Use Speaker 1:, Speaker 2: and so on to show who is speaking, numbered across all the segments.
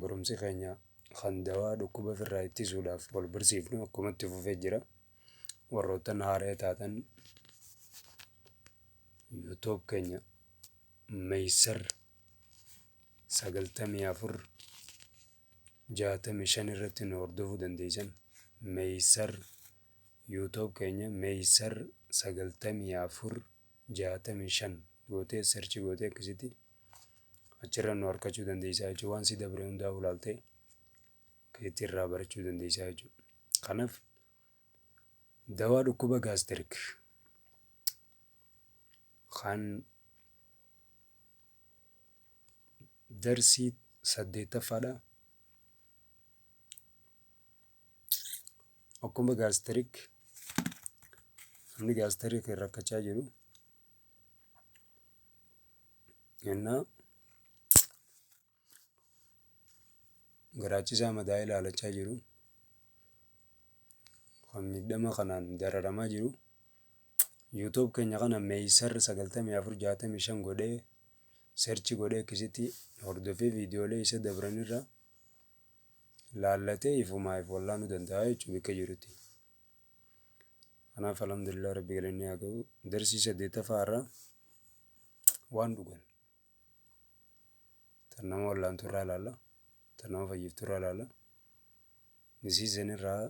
Speaker 1: Barumsi keenya kan dawaa dhukkuba ofirraa ittisuudhaaf wal barsiifnu akkuma itti fufee jira. Warroottan haaree taatan yuutuub keenya meeysar sagaltamii afur jaatamii shan irratti nu hordofuu dandeeysan. Meeysar yuutuub keenya meeysar sagaltamii afur. jaatamii shan gootee search gootee akkasitti achirra nu harkachuu dandeessaa jechuudha. Waan si dabre hundaa ulaaltee keetti irraa barachuu dandeessaa jechuudha. Kanaaf dawaa dhukkuba gaastirik kan darsii saddeettaffaadha. akkuma gaastirik namni gaastirikiin rakkachaa jiru yennaa garaachisaa madaa ilaalachaa jiru kan miidhama kanaan dararamaa jiru yuutuub keenya kana meeysar 9465 godhee serchi godhee akkasitti hordofee viidiyoolee isa dabranirra laallatee ifumaa if wallaanuu danda'a jechuudha bakka jirutti. Kanaaf alhamdulillah rabbi galanni haa ga'u darsii saddeettaffaa irraa waan dhugan tan nama wallaantu irraa ilaalla tan nama fayyiftu irraa ilaalla nisiisan irraa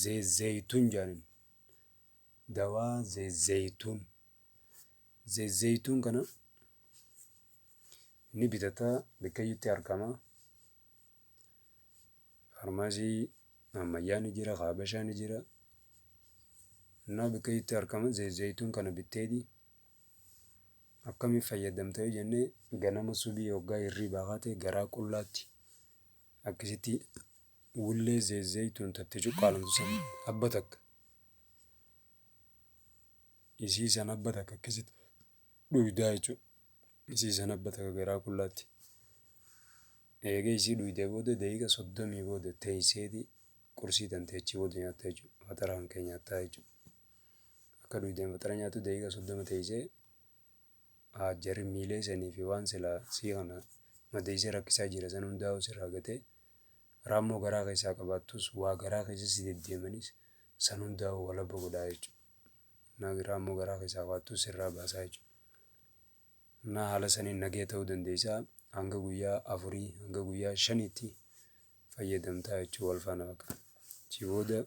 Speaker 1: zeezeytuun jaanin dawaa zeezeytuun zeezeytuun kana Ni bitata bakkayyutti argama. Faarmaasii ammayyaa ni jira, kaabashaa ni jira. Innaa bakkayyutti argama zayituun kana bitteeti. Akkamiin fayyadamta yoo jennee ganama subii hoggaa hirriibaa kaatee garaa qullaatti akkasitti wullee zayituun tatte cuqqaalamtu san abba takka isii san abba takka akkasitti dhuydaa jechuudha. Isii san abba takka garaa qullaatti. Eega isii dhuydee booda daqiiqa soddomii booda teeyseeti qursii tantee achii booda nyaatta jechuudha. Faxara kan kee nyaattaa jechuudha. Akka dhuydeen faxara nyaattu daqiiqa soddoma teeysee haajjarri miilee sanii fi waan silaa sii kana madeeysee rakkisaa jira san hundaa'u sirraa gatee raammoo garaa keessaa qabaattus waa garaa keessa si deddeemanis san hundaa'u walabba godhaa jechuudha. naagiraa immoo garaa keessaa kaattu sirraa baasaa jechuudha. Naa haala saniin nagee ta'uu dandeessaa hanga guyyaa afurii hanga guyyaa shaniitti fayyadamtaa jechuudha wal faana bakka. Achi booda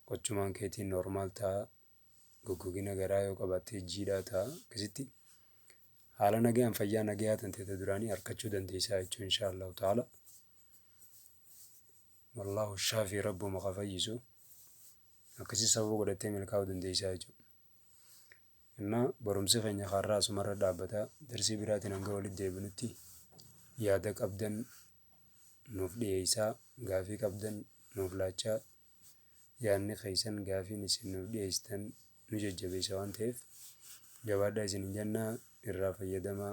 Speaker 1: qochumaan keetiin normaal ta'a goggogina garaa yoo qabaattee jiidhaa ta'a akkasitti haala nagaan fayyaa nagaa tantee ta duraanii harkachuu dandeessaa jechuudha inshaallahu ta'ala. Wallahu shafi rabbuma ka fayyisu akkasi sababa godhattee milkaa'uu dandeeysaa jechuudha innaa barumsi keenya kaarraa asumarra dhaabbata darsii biraatiin hanga walitti deebinutti yaada qabdan nuuf dhiyeeysaa gaafii qabdan nuuf laachaa yaadni keeysan gaafiin isin nuuf dhiyeeysitan nu jajjabeeysa waan ta'eef jabaadhaa isin hin jannaa irraa fayyadamaa